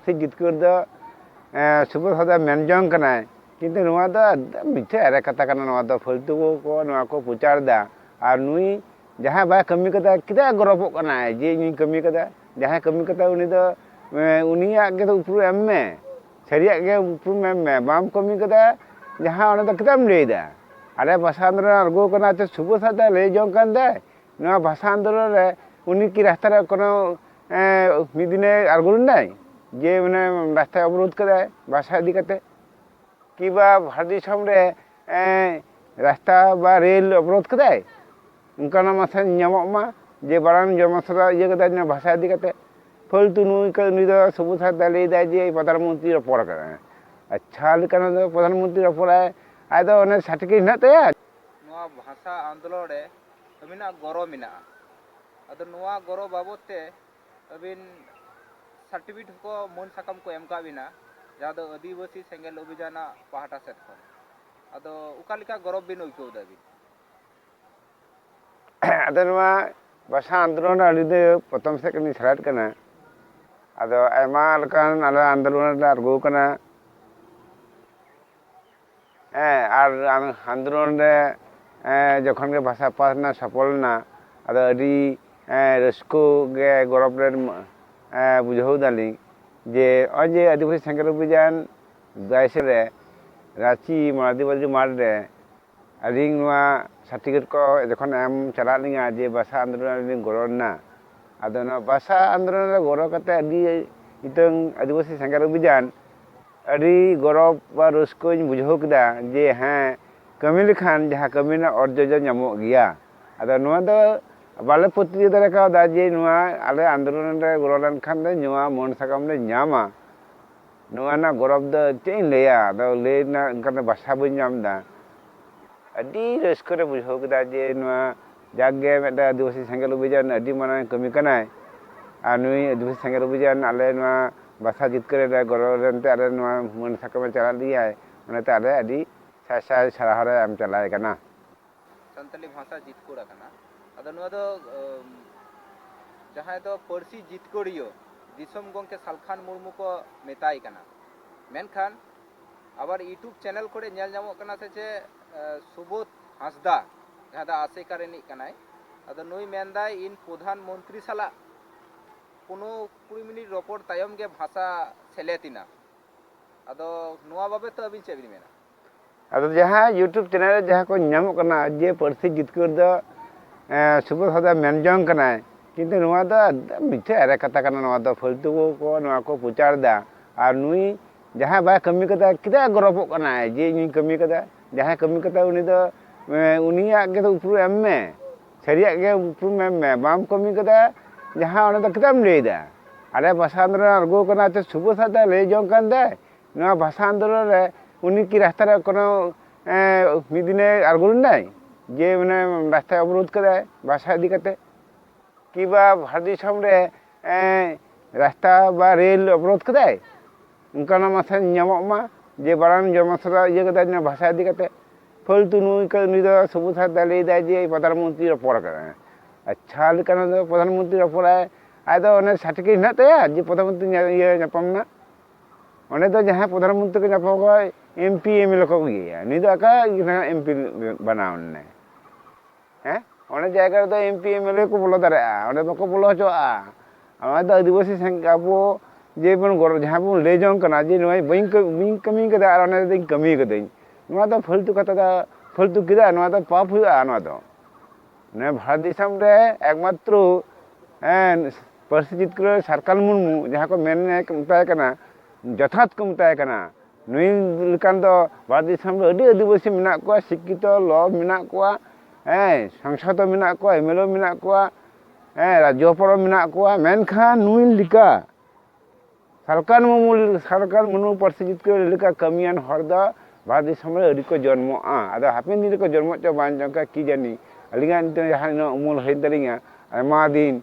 ᱥᱮ ᱡᱤᱛᱠᱟᱹᱨ ᱫᱚ ᱥᱩᱵᱚᱫᱷ ᱦᱚᱸ ᱫᱚᱭ ᱢᱮᱱ ᱡᱚᱝ ᱠᱟᱱᱟᱭ ᱠᱤᱱᱛᱩ ᱱᱚᱣᱟ ᱫᱚ ᱢᱤᱛᱷᱟᱹ ᱮᱲᱮ ᱠᱟᱛᱷᱟ ᱠᱟᱱᱟ ᱱᱚᱣᱟ ᱫᱚ ᱯᱷᱟᱹᱞᱛᱩ ᱠᱚ ᱱᱚᱣᱟ ᱠᱚ ᱯᱨᱚᱪᱟᱨ ᱮᱫᱟ ᱟᱨ ᱱᱩᱭ ᱡᱟᱦᱟᱸᱭ ᱵᱟᱭ ᱠᱟᱹᱢᱤ ᱠᱟᱫᱟ ᱪᱮᱫᱟᱜ ᱜᱚᱨᱚᱵᱚᱜ ᱠᱟᱱᱟᱭ ᱡᱮ ᱤᱧᱤᱧ ᱠᱟᱹᱢᱤ ᱠᱟᱫᱟ ᱡᱟᱦᱟᱸᱭ ᱠᱟᱹᱢᱤ ᱠᱟᱫᱟ ᱩᱱᱤ ᱫᱚ ᱩᱱᱤᱭᱟᱜ ᱜᱮ ᱩᱯᱨᱩᱢ ᱮᱢ ᱢᱮ ᱥᱟᱹᱨᱤᱭᱟᱜ ᱜᱮ ᱩᱯᱨᱩᱢ ᱮᱢ ᱢᱮ ᱵᱟᱢ ᱠᱟᱹᱢᱤ ᱠᱟᱫᱟ ᱡᱟᱦᱟᱸ ᱚᱱᱟ ᱫᱚ ᱪᱮᱫᱟᱜ ᱮᱢ ᱞᱟᱹᱭᱫᱟ ᱟᱞᱮ ᱵᱷᱟᱥᱟ ᱟᱱᱫᱳᱞᱚᱱ ᱟᱬᱜᱚ ᱠᱟᱱᱟ ᱥᱩᱵᱚᱫᱷ ᱦᱟᱸᱥᱫᱟ ᱞᱟᱹᱭ ᱡᱚᱝ ᱠᱟᱱ ᱫᱚᱭ ᱱᱚᱣᱟ ᱵᱷᱟᱥᱟ ᱟᱱᱫᱳᱞᱚᱱ ᱨᱮ ᱩᱱᱤ ᱠᱤ ᱨᱟᱥᱛᱟ ᱨᱮ ᱠᱳᱱᱳ ᱢᱤᱫ ᱫᱤᱱᱮ ᱟᱬᱜᱚ ᱞᱮᱱᱟᱭ ᱡᱮ ᱢᱟᱱᱮ ᱨᱟᱥᱛᱟᱭ ᱚᱵᱚᱨᱳᱫᱷ ᱠᱮᱫᱟᱭ ᱵᱟᱥᱟ ᱤᱫᱤ ᱠᱟᱛᱮ ᱠᱤᱵᱟ ᱵᱷᱟᱨᱚᱛ ᱫᱤᱥᱚᱢ ᱨᱮ ᱨᱟᱥᱛᱟ ᱵᱟ ᱨᱮᱞ ᱚᱵᱚᱨᱳᱫᱷ ᱠᱮᱫᱟᱭ ᱚᱱᱠᱟᱱᱟᱜ ᱢᱟᱥᱮ ᱧᱟᱢᱚᱜ ᱢᱟ ᱡᱮ ᱵᱟᱝ ᱡᱚᱱᱢᱚ ᱥᱟᱞᱟ ᱤᱭᱟᱹ ᱠᱮᱫᱟᱭ ᱵᱷᱟᱥᱟ ᱤᱫᱤ ᱠᱟᱛᱮ ᱯᱷᱟᱹᱞᱛᱩ ᱱᱩᱭ ᱱᱩᱭ ᱫᱚ ᱥᱚᱵᱩᱡ ᱦᱟᱸᱥᱫᱟ ᱞᱟᱹᱭ ᱫᱟᱭ ᱡᱮ ᱯᱨᱚᱫᱷᱟᱱ ᱢᱚᱱᱛᱨᱤ ᱨᱚᱯᱚᱲ ᱠᱟᱱᱟᱭ ᱟᱪᱪᱷᱟ ᱞᱮᱠᱟᱱᱟᱜ ᱫᱚ ᱯᱨᱚᱫᱷᱟᱱ ᱢᱚᱱᱛᱨᱤ ᱨᱚᱯᱚᱲᱟᱭ ᱟᱡ ᱫᱚ ᱚᱱᱮ ᱥᱟᱨᱴᱤᱯᱷᱤᱠᱮᱴ ᱦᱮᱱᱟᱜ ᱛᱟᱭᱟ ᱱᱚᱣᱟ ᱵᱷᱟᱥᱟ ᱟᱱᱫᱳᱞᱚᱱ ᱨᱮ ᱟᱹᱵᱤᱱᱟᱜ ᱜᱚᱨᱚ ᱢᱮᱱᱟᱜᱼᱟ ᱟᱫᱚ ᱱᱚᱣᱟ ᱜᱚᱨᱚ ᱵᱟᱵᱚᱛ ᱛᱮ ᱟᱹᱵᱤᱱ ᱥᱟᱨᱴᱤᱯᱷᱤᱠᱮᱴ ᱦᱚᱸᱠᱚ ᱢᱟᱹᱱ ᱥᱟᱠᱟᱢ ᱠᱚ ᱮᱢ ᱠᱟᱜ ᱵᱤᱱᱟ ᱡᱟᱦᱟᱸ ᱫᱚ ᱟᱹᱫᱤᱵᱟᱹᱥᱤ ᱥᱮᱸᱜᱮᱞ ᱚᱵᱷᱤᱡᱟᱱ ᱟᱜ ᱯᱟᱦᱴᱟ ᱥᱮᱫ ᱠᱷᱚᱱ ᱟᱫᱚ ᱚᱠᱟ ᱞᱮᱠᱟ ᱜᱚᱨᱚᱵᱽ ᱵᱤᱱ ᱟᱹᱭᱠᱟᱹᱣ ᱮᱫᱟ ᱵᱤᱱ ᱟᱫᱚ ᱱᱚᱣᱟ ᱵᱷᱟᱥᱟ ᱟᱱᱫᱳᱞᱚᱱ ᱟᱹᱰᱤ ᱫᱚ ᱯᱨᱚᱛᱷᱚᱢ ᱥᱮᱫ ᱠᱷᱚᱱᱤᱧ ᱥᱮᱞᱮᱫ ᱠᱟᱱᱟ ᱟᱫᱚ ᱟᱭᱢᱟ ᱞᱮᱠᱟᱱ ᱟᱞᱮ ᱟᱱᱫᱳᱞᱚᱱ ᱨᱮᱞᱮ ᱟᱬᱜᱚ ᱠᱟᱱᱟ ᱟᱨ ᱟᱱᱫᱳᱞᱚᱱ ᱨᱮ ᱡᱚᱠᱷᱚᱱ ᱜᱮ ᱵᱷᱟᱥᱟ ᱯᱟᱥᱱᱟᱣ ᱥᱚᱯᱷᱚᱞ ᱮᱱᱟ ᱟᱫᱚ ᱟᱹᱰᱤ ᱨᱟᱹᱥᱠᱟᱹ ᱜᱮ ᱜᱚᱨᱚᱵᱽ ᱞᱮ ᱵᱩᱡᱷᱟᱹᱣ ᱮᱫᱟᱞᱤᱧ ᱡᱮ ᱱᱚᱜᱼᱚᱭ ᱡᱮ ᱟᱹᱫᱤᱵᱟᱹᱥᱤ ᱥᱮᱸᱜᱮᱞ ᱚᱵᱷᱤᱡᱟᱱ ᱵᱟᱭᱤᱥᱮ ᱨᱮ ᱨᱟᱺᱪᱤ ᱢᱟᱨᱟᱫᱤᱵᱟᱹᱫᱤ ᱢᱟᱴᱷ ᱨᱮ ᱟᱹᱞᱤᱧ ᱱᱚᱣᱟ ᱥᱟᱨᱴᱤᱯᱷᱤᱠᱮᱴ ᱠᱚ ᱡᱚᱠᱷᱚᱱ ᱮᱢ ᱪᱟᱞᱟᱜ ᱞᱤᱧᱟᱹ ᱡᱮ ᱵᱷᱟᱥᱟ ᱟᱱᱫᱳᱞᱚᱱ ᱨᱮ ᱞᱤᱧ ᱜᱚᱲᱚ ᱞᱮᱱᱟ ᱟᱫᱚ ᱱᱚᱣᱟ ᱵᱷᱟᱥᱟ ᱟᱱᱫᱳᱞᱚᱱ ᱨᱮ ᱜᱚᱲᱚ ᱠᱟᱛᱮᱫ ᱟᱹᱰᱤ ᱢᱤᱫᱴᱟᱹᱝ ᱟᱹᱫᱤᱵᱟᱹᱥᱤ ᱥᱮᱸᱜᱮᱞ ᱚᱵᱷᱤᱡᱟᱱ ᱟᱹᱰᱤ ᱜᱚᱨᱚᱵᱽ ᱵᱟ ᱨᱟᱹᱥᱠᱟᱹᱧ ᱵᱩᱡᱷᱟᱹᱣ ᱠᱮᱫᱟ ᱡᱮ ᱦᱮᱸ ᱠᱟᱹᱢᱤ ᱞᱮᱠᱷᱟᱱ ᱡᱟᱦᱟᱸ ᱠᱟᱹᱢᱤ ᱨᱮᱱᱟᱜ ᱚᱨᱡᱚ ᱫᱚ ᱧᱟᱢᱚᱜ ᱜᱮᱭᱟ ᱟᱫᱚ ᱱᱚᱣᱟ ᱫᱚ ᱵᱟᱞᱮ ᱯᱟᱹᱛᱭᱟᱹᱣ ᱫᱟᱲᱮ ᱠᱟᱣᱫᱟ ᱡᱮ ᱱᱚᱣᱟ ᱟᱞᱮ ᱟᱱᱫᱳᱞᱚᱱ ᱨᱮ ᱜᱚᱲᱚ ᱞᱮᱱᱠᱷᱟᱱ ᱫᱚ ᱱᱚᱣᱟ ᱢᱟᱹᱱ ᱥᱟᱠᱟᱢ ᱞᱮ ᱧᱟᱢᱟ ᱱᱚᱣᱟ ᱨᱮᱱᱟᱜ ᱜᱚᱨᱚᱵᱽ ᱫᱚ ᱪᱮᱫ ᱤᱧ ᱞᱟᱹᱭᱟ ᱟᱫᱚ ᱞᱟᱹᱭ ᱨᱮᱱᱟᱜ ᱚᱱᱠᱟᱱ ᱵᱷᱟᱥᱟ ᱵᱟᱹᱧ ᱧᱟᱢ ᱮᱫᱟ ᱟᱹᱰᱤ ᱨᱟᱹᱥᱠᱟᱹ ᱞᱮ ᱵᱩᱡᱷᱟᱹᱣ ᱠᱮᱫᱟ ᱡᱮ ᱱᱚᱣᱟ ᱡᱟᱠ ᱜᱮ ᱢᱤᱫᱴᱮᱱ ᱟᱹᱫᱤᱵᱟᱹᱥᱤ ᱥᱮᱸᱜᱮᱞ ᱚᱵᱷᱤᱡᱟᱱ ᱟᱹᱰᱤ ᱢᱟᱨᱟᱝ ᱠᱟᱹᱢᱤ ᱠᱟᱱᱟᱭ ᱟᱨ ᱱᱩᱭ ᱟᱹᱫᱤᱵᱟᱹᱥᱤ ᱥᱮᱸᱜᱮᱞ ᱚᱵᱷᱤᱡᱟᱱ ᱟᱞᱮ ᱱᱚᱣᱟ ᱵᱟᱥᱟ ᱡᱤᱛᱠᱟᱹᱨ ᱨᱮ ᱜᱚᱲᱚ ᱞᱮᱱ ᱛᱮ ᱟᱞᱮ ᱱᱚᱣᱟ ᱢᱟᱹᱱ ᱥᱟᱠᱟᱢᱮ ᱪᱟᱞᱟᱫ ᱞᱮᱭᱟᱭ ᱚᱱᱟᱛᱮ ᱟᱞᱮ ᱟᱹᱰᱤ ᱥᱟᱭ ᱥᱟᱭ ᱥᱟᱨᱦᱟᱣ ᱞᱮ ᱮᱢ ᱪᱟᱞᱟᱭ ᱠᱟᱱᱟ᱾ ᱥᱟᱱᱛᱟᱞᱤ ᱵᱷᱟᱥᱟ ᱡᱤᱛᱠᱟᱹᱨ ᱟᱠᱟᱱᱟ ᱟᱫᱚ ᱱᱚᱣᱟ ᱫᱚ ᱡᱟᱦᱟᱸᱭ ᱫᱚ ᱯᱟᱹᱨᱥᱤ ᱡᱤᱛᱠᱟᱹᱨᱤᱭᱟᱹ ᱫᱤᱥᱚᱢ ᱜᱚᱢᱠᱮ ᱥᱟᱞᱠᱷᱟᱱ ᱢᱩᱨᱢᱩ ᱠᱚ ᱢᱮᱛᱟᱭ ᱠᱟᱱᱟ ᱢᱮᱱᱠᱷᱟᱱ ᱟᱵᱟᱨ ᱤᱭᱩᱴᱩᱵᱽ ᱪᱮᱱᱮᱞ ᱠᱚᱨᱮ ᱧᱮᱞ ᱧᱟᱢᱚᱜ ᱠᱟᱱᱟ ᱥᱮ ᱪᱮᱫ ᱥᱩᱵᱳᱫᱷ ᱦᱟᱸᱥᱫᱟ ᱡᱟᱦᱟᱸ ᱫᱚ ᱟᱥᱮᱠᱟ ᱨᱤᱱᱤᱡ ᱠᱟᱱᱟᱭ ᱟᱫᱚ ᱱᱩᱭ ᱢᱮᱱᱫᱟᱭ ᱤᱧ ᱯᱨᱚᱫᱷᱟᱱ ᱢᱚᱱᱛᱨᱤ ᱥᱟᱞᱟᱜ ᱠᱳᱱᱳ ᱠᱩᱲᱤ ᱢᱤᱱᱤᱴ ᱨᱚᱯᱚᱲ ᱛᱟᱭᱚᱢ ᱜᱮ ᱵᱷᱟᱥᱟ ᱥᱮᱞᱮᱫ ᱮᱱᱟ ᱟᱫᱚ ᱱᱚᱣᱟ ᱵᱟᱵᱚᱛ ᱛᱮ ᱟᱹᱵᱤᱱ ᱪᱮᱫ ᱵᱤᱱ ᱢᱮᱱᱟ ᱟᱫᱚ ᱡᱟᱦᱟᱸ ᱤᱭᱩᱴᱩᱵᱽ ᱪᱮᱱᱮᱞ ᱨᱮ ᱡᱟᱦᱟᱸ ᱠᱚ ᱧᱟᱢᱚᱜ ᱠᱟᱱᱟ ᱡᱮ ᱯᱟᱹᱨᱥᱤ ᱡᱤᱛᱠᱟᱹᱨ ᱫᱚ ᱥᱩᱵᱳᱫᱷ ᱦᱟᱸᱥᱫᱟ ᱢᱮᱱ ᱡᱚᱝ ᱠᱟᱱᱟᱭ ᱠᱤᱱᱛᱩ ᱱᱚᱣᱟ ᱫᱚ ᱢᱤᱛᱷᱮ ᱮᱲᱮ ᱠᱟᱛᱷᱟ ᱠᱟᱱᱟ ᱱᱚᱣᱟ ᱫᱚ ᱯᱷᱟᱹᱞᱛᱩ ᱠᱚ ᱱᱚᱣᱟ ᱠᱚ ᱯᱨᱚᱪᱟᱨ ᱮᱫᱟ ᱟᱨ ᱱᱩᱭ ᱡᱟᱦᱟᱸᱭ ᱵᱟᱭ ᱠᱟᱹᱢᱤ ᱠᱟᱫᱟ ᱪᱮᱫᱟᱜ ᱮ ᱜᱚᱨᱚᱵᱚᱜ ᱠᱟᱱᱟ ᱡᱮ ᱤᱧᱤᱧ ᱠᱟᱹᱢᱤ ᱠᱟᱫᱟ ᱡᱟᱦᱟᱸᱭ ᱠᱟᱹᱢᱤ ᱠᱟᱫᱟ ᱩᱱᱤ ᱫᱚ ᱩᱱᱤᱭᱟᱜ ᱜᱮ ᱩᱯᱨᱩᱢ ᱮᱢ ᱢᱮ ᱥᱟᱹᱨᱤᱭᱟᱜ ᱜᱮ ᱩᱯᱨᱩᱢ ᱮᱢ ᱢᱮ ᱵᱟᱢ ᱠᱟᱹᱢᱤ ᱠᱟᱫᱟ ᱡᱟᱦᱟᱸ ᱚᱱᱟ ᱫᱚ ᱪᱮᱫᱟᱜ ᱮᱢ ᱞᱟᱹᱭᱫᱟ ᱟᱞᱮ ᱵᱷᱟᱥᱟ ᱟᱱᱫᱳᱞᱚᱱ ᱨᱮ ᱟᱬᱜᱚ ᱠᱟᱱᱟ ᱛᱚ ᱥᱩᱵᱚ ᱥᱟᱶᱛᱮ ᱞᱟᱹᱭ ᱡᱚᱝ ᱠᱟᱱ ᱫᱚᱭ ᱱᱚᱣᱟ ᱵᱷᱟᱥᱟ ᱟᱱᱫᱳᱞᱚᱱ ᱨᱮ ᱩᱱᱤ ᱠᱤ ᱨᱟᱥᱛᱟ ᱨᱮ ᱠᱳᱱᱳ ᱢᱤᱫ ᱫᱤᱱᱮ ᱟᱬᱜᱚ ᱞᱮᱱᱟᱭ ᱡᱮ ᱢᱟᱱᱮ ᱨᱟᱥᱛᱟᱭ ᱚᱵᱚᱨᱳᱫᱷ ᱠᱟᱫᱟᱭ ᱵᱷᱟᱥᱟ ᱤᱫᱤ ᱠᱟᱛᱮ ᱠᱤ ᱵᱟ ᱵᱷᱟᱨᱚᱛ ᱫᱤᱥᱚᱢ ᱨᱮ ᱨᱟᱥᱛᱟ ᱵᱟ ᱨᱮᱞ ᱚᱵᱚᱨᱳᱫ ᱠᱮᱫᱟᱭ ᱚᱱᱠᱟᱱᱟᱜ ᱢᱟᱥᱮ ᱧᱟᱢᱚᱜ ᱢᱟ ᱡᱮ ᱵᱟᱨᱟᱝ ᱡᱚᱱᱚ ᱥᱚᱵᱷᱟ ᱤᱭᱟᱹ ᱠᱮᱫᱟᱭ ᱱᱚᱣᱟ ᱵᱷᱟᱥᱟ ᱤᱫᱤ ᱠᱟᱛᱮ ᱯᱷᱟᱹᱞᱛᱩ ᱱᱩᱭ ᱠᱚ ᱱᱩᱭ ᱫᱚ ᱥᱚᱵᱩᱡ ᱦᱟᱸᱥᱫᱟ ᱞᱟᱹᱭ ᱫᱟᱭ ᱡᱮ ᱯᱨᱚᱫᱷᱟᱱ ᱢᱚᱱᱛᱨᱤ ᱨᱚᱯᱚᱲ ᱠᱟᱱᱟᱭ ᱟᱪᱪᱷᱟ ᱞᱮᱠᱟᱱᱟᱜ ᱫᱚ ᱯᱨᱚᱫᱷᱟᱱ ᱢᱚᱱᱛᱨᱤ ᱨᱚᱯᱚᱲᱟᱭ ᱟᱡ ᱫᱚ ᱚᱱᱮ ᱥᱟᱨᱴᱤᱯᱷᱤᱠᱮᱴ ᱦᱮᱱᱟᱜ ᱛᱟᱭᱟ ᱡᱮ ᱯᱨᱚᱫᱷᱟᱱ ᱢᱚᱱᱛᱨᱤ ᱤᱭᱟᱹ ᱧᱟᱯᱟᱢ ᱱᱟ ᱚᱸᱰᱮ ᱫᱚ ᱡᱟᱦᱟᱸᱭ ᱯᱨᱚᱫᱷᱟᱱ ᱢᱚᱱᱛᱨᱤ ᱠᱚ ᱧᱟᱯᱟᱢ ᱠᱚᱣᱟ M P M L A ᱠᱚ ᱤᱭᱟᱹᱭᱟ ᱱᱩᱭ ᱫᱚ ᱟᱠᱟ ᱮᱢ ᱯᱤ ᱵᱮᱱᱟᱣ ᱮᱱᱟᱭ ᱦᱮᱸ ᱚᱱᱟ ᱡᱟᱭᱜᱟ ᱨᱮᱫᱚ M P M L A ᱠᱚ ᱵᱚᱞᱚ ᱫᱟᱲᱮᱭᱟᱜᱼᱟ ᱚᱸᱰᱮ ᱵᱟᱠᱚ ᱵᱚᱞᱚ ᱦᱚᱪᱚᱣᱟᱜᱼᱟ ᱚᱱᱟ ᱫᱚ ᱟᱹᱫᱤᱵᱟᱹᱥᱤ ᱥᱟᱝᱜᱮ ᱟᱵᱚ ᱡᱮ ᱵᱚᱱ ᱜᱚᱲᱚ ᱡᱟᱦᱟᱸ ᱵᱚᱱ ᱞᱟᱹᱭ ᱡᱚᱝ ᱠᱟᱱᱟ ᱡᱮ ᱱᱚᱜᱼᱚᱭ ᱵᱟᱹᱧ ᱵᱟᱹᱧ ᱠᱟᱹᱢᱤ ᱠᱟᱫᱟ ᱟᱨ ᱚᱱᱟ ᱨᱮᱫᱚᱧ ᱠᱟᱹᱢᱤ ᱠᱟᱹᱫᱟᱹᱧ ᱱᱚᱣᱟ ᱫᱚ ᱯᱷᱟᱹᱞᱛᱩ ᱠᱟᱛᱷᱟ ᱫᱚ ᱯᱷᱟᱹᱞᱛᱩ ᱠᱮᱫᱟ ᱱᱚᱣᱟ ᱫᱚ ᱯᱟᱯ ᱦᱩᱭᱩᱜᱼᱟ ᱱᱚᱣᱟ ᱫᱚ ᱱᱚᱣᱟ ᱵᱷᱟᱨᱚᱛ ᱫᱤᱥᱚᱢ ᱨᱮ ᱮᱠᱢᱟᱛᱨᱚ ᱦᱮᱸ ᱯᱟᱹᱨᱥᱤ ᱡᱤᱛᱠᱟᱹᱨ ᱥᱟᱨᱠᱟᱞ ᱢᱩᱨᱢᱩ ᱡᱟᱦᱟᱸ ᱠᱚ ᱢᱮᱱ ᱢᱮᱛᱟᱭ ᱠᱟᱱᱟ ᱡᱚᱛᱷᱟᱛ ᱠᱚ ᱢᱮᱛᱟᱭ ᱠᱟᱱᱟ ᱱᱩᱭ ᱞᱮᱠᱟᱱ ᱫᱚ ᱵᱷᱟᱨᱚᱛ ᱫᱤᱥᱚᱢ ᱨᱮ ᱟᱹᱰᱤ ᱟᱹᱫᱤᱵᱟᱹᱥᱤ ᱢᱮᱱᱟᱜ ᱠᱚᱣᱟ ᱥᱤᱠᱠᱷᱤᱛᱚ ᱞᱚ ᱢᱮᱱᱟᱜ ᱠᱚᱣᱟ ᱦᱮᱸ ᱥᱟᱝᱥᱚᱫ ᱦᱚᱸ ᱢᱮᱱᱟᱜ ᱠᱚᱣᱟ ᱮᱢ ᱮᱞ ᱮ ᱢᱮᱱᱟᱜ ᱠᱚᱣᱟ ᱦᱮᱸ ᱨᱟᱡᱽᱡᱚ ᱦᱚᱯᱚᱱ ᱦᱚᱸ ᱢᱮᱱᱟᱜ ᱠᱚᱣᱟ ᱢᱮᱱᱠᱷᱟᱱ ᱱᱩᱭ ᱞᱮᱠᱟ ᱥᱟᱞᱠᱷᱟᱱ ᱢᱩᱨᱢᱩ ᱥᱟᱞᱠᱷᱟᱱ ᱢᱩᱨᱢᱩ ᱯᱟᱹᱨᱥᱤ ᱡᱤᱛᱠᱟᱹᱨ ᱞᱮᱠᱟ ᱠᱟᱹᱢᱤᱭᱟᱱ ᱦᱚᱲ ᱫᱚ ᱵᱷᱟᱨᱚᱛ ᱫᱤᱥᱚᱢ ᱨᱮ ᱟᱹᱣᱨᱤ ᱠᱚ ᱡᱚᱱᱢᱚᱜᱼᱟ ᱟᱫᱚ ᱦᱟᱯᱮᱱ ᱫᱤᱱ ᱨᱮᱠᱚ ᱡᱚᱱᱢᱚᱜ ᱪᱚ ᱵᱟᱝ ᱪᱚᱝ ᱠᱤ ᱡᱟᱹᱱᱤ ᱟᱹᱞᱤᱧᱟᱜ ᱱᱤᱛᱚᱜ ᱡᱟᱦᱟᱸ ᱩᱢᱩᱞ ᱦᱩᱭᱮᱱ ᱛᱟᱹᱞᱤᱧᱟ ᱟᱭᱢᱟ ᱫᱤᱱ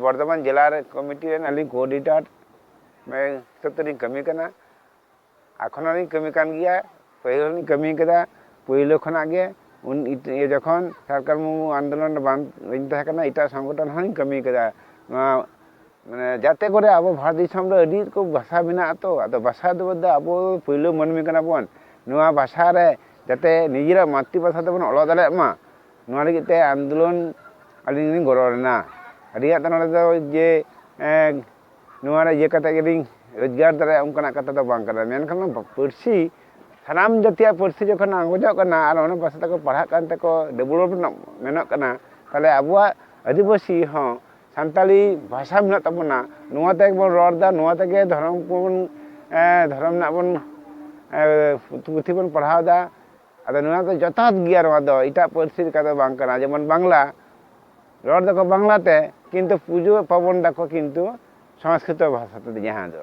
ᱵᱚᱨᱫᱷᱚᱢᱟᱱ ᱡᱮᱞᱟ ᱨᱮ ᱠᱚᱢᱤᱴᱤ ᱨᱮᱱ ᱟᱹᱞᱤᱧ ᱠᱳᱰᱤᱱᱮᱴᱟᱨ ᱦᱤᱥᱟᱹᱵ ᱛᱮᱞᱤᱧ ᱠᱟᱹᱢᱤ ᱠᱟᱱᱟ ᱮᱠᱷᱚᱱ ᱦᱚᱞᱤᱧ ᱠᱟᱹᱢᱤ ᱠᱟᱱ ᱜᱮᱭᱟ ᱯᱟᱹᱦᱤᱞ ᱦᱚᱞᱤᱧ ᱠᱟᱹᱢᱤ ᱠᱟᱫᱟ ᱯᱳᱭᱞᱳ ᱠᱷᱚᱱᱟᱜ ᱜᱮ ᱩᱱ ᱡᱚᱠᱷᱚᱱ ᱥᱟᱨᱠᱟᱨ ᱢᱩᱨᱢᱩ ᱟᱱᱫᱳᱞᱚᱱ ᱨᱮ ᱵᱟᱝ ᱛᱟᱦᱮᱸ ᱠᱟᱱᱟ ᱮᱴᱟᱜ ᱥᱚᱝᱜᱚᱴᱷᱚᱱ ᱦᱚᱞᱤᱧ ᱠᱟᱹᱢᱤ ᱠᱟᱫᱟ ᱱᱚᱣᱟ ᱢᱟᱱᱮ ᱡᱟᱛᱮ ᱠᱚᱨᱮ ᱟᱵᱚ ᱵᱷᱟᱨᱚᱛ ᱫᱤᱥᱚᱢ ᱨᱮ ᱟᱹᱰᱤ ᱨᱚᱠᱚᱢ ᱵᱷᱟᱥᱟ ᱢᱮᱱᱟᱜ ᱟᱛᱚ ᱟᱫᱚ ᱵᱷᱟᱥᱟ ᱫᱚ ᱟᱵᱚ ᱯᱳᱭᱞᱳ ᱢᱟᱹᱱᱢᱤ ᱠᱟᱱᱟ ᱵᱚᱱ ᱱᱚᱣᱟ ᱵᱷᱟᱥᱟ ᱨᱮ ᱡᱟᱛᱮ ᱱᱤᱡᱮᱨᱟᱜ ᱢᱟᱛᱨᱤ ᱵᱷᱟᱥᱟ ᱛᱮᱵᱚᱱ ᱚᱞᱚᱜ ᱫᱟᱲᱮᱭᱟᱜ ᱢᱟ ᱱᱚᱣᱟ ᱞᱟᱹᱜᱤᱫ ᱛᱮ ᱟᱱᱫᱳᱞᱚᱱ ᱟᱹᱞᱤᱧ ᱞᱤᱧ ᱜᱚᱲᱚ ᱞᱮᱱᱟ ᱟᱹᱞᱤᱧᱟᱜ ᱫᱚ ᱱᱚᱰᱮ ᱫᱚ ᱡᱮ ᱱᱚᱣᱟ ᱨᱮ ᱤᱭᱟᱹ ᱠᱟᱛᱮ ᱜᱮᱞᱤᱧ ᱨᱳᱡᱽᱜᱟᱨ ᱫᱟᱲᱮᱭᱟᱜᱼᱟ ᱚᱱᱠᱟᱱᱟᱜ ᱠᱟᱛᱷᱟ ᱫᱚ ᱵᱟᱝ ᱠᱟᱱᱟ ᱢᱮᱱᱠᱷᱟᱱ ᱱᱚᱣᱟ ᱯᱟᱹᱨᱥᱤ ᱥᱟᱱᱟᱢ ᱡᱟᱹᱛᱤᱭᱟᱜ ᱯᱟᱹᱨᱥᱤ ᱡᱚᱠᱷᱚᱱ ᱟᱸᱜᱚᱡᱚᱜ ᱠᱟᱱᱟ ᱟᱨ ᱚᱱᱟ ᱯᱟᱹᱨᱥᱤ ᱛᱮᱠᱚ ᱯᱟᱲᱦᱟᱜ ᱠᱟᱱ ᱛᱮᱠᱚ ᱰᱮᱵᱷᱞᱚᱯ ᱨᱮᱱᱟᱜ ᱢᱮᱱᱚᱜ ᱠᱟᱱᱟ ᱛᱟᱦᱚᱞᱮ ᱟᱵᱚᱣᱟᱜ ᱟᱹᱫᱤᱵᱟᱹᱥᱤ ᱦᱚᱸ ᱥᱟᱱᱛᱟᱲᱤ ᱵᱷᱟᱥᱟ ᱢᱮᱱᱟᱜ ᱛᱟᱵᱚᱱᱟ ᱱᱚᱣᱟ ᱛᱮᱜᱮ ᱵᱚᱱ ᱨᱚᱲ ᱮᱫᱟ ᱱᱚᱣᱟ ᱛᱮᱜᱮ ᱫᱷᱚᱨᱚᱢ ᱠᱚᱵᱚᱱ ᱫᱷᱚᱨᱚᱢ ᱨᱮᱱᱟᱜ ᱵᱚᱱ ᱯᱩᱛᱷᱤ ᱵᱚᱱ ᱯᱟᱲᱦᱟᱣ ᱮᱫᱟ ᱟᱫᱚ ᱱᱚᱣᱟ ᱫᱚ ᱡᱚᱛᱷᱟᱛ ᱜᱮᱭᱟ ᱱᱚᱣᱟ ᱫᱚ ᱮᱴᱟᱜ ᱯᱟᱹᱨᱥᱤ ᱞᱮᱠᱟ ᱫᱚ ᱵᱟᱝ ᱠᱟᱱᱟ ᱡᱮᱢᱚᱱ ᱵᱟᱝᱞᱟ ᱨᱚᱲ ᱫᱟᱠᱚ ᱵᱟᱝᱞᱟ ᱛᱮ ᱠᱤᱱᱛᱩ ᱯᱩᱡᱟᱹ ᱯᱟᱨᱵᱚᱱ ᱫᱟᱠᱚ ᱠᱤᱱᱛᱩ ᱥᱚᱝᱥᱠᱨᱤᱛᱚ ᱵᱷᱟᱥᱟ ᱛᱮ ᱡᱟᱦᱟᱸ ᱫᱚ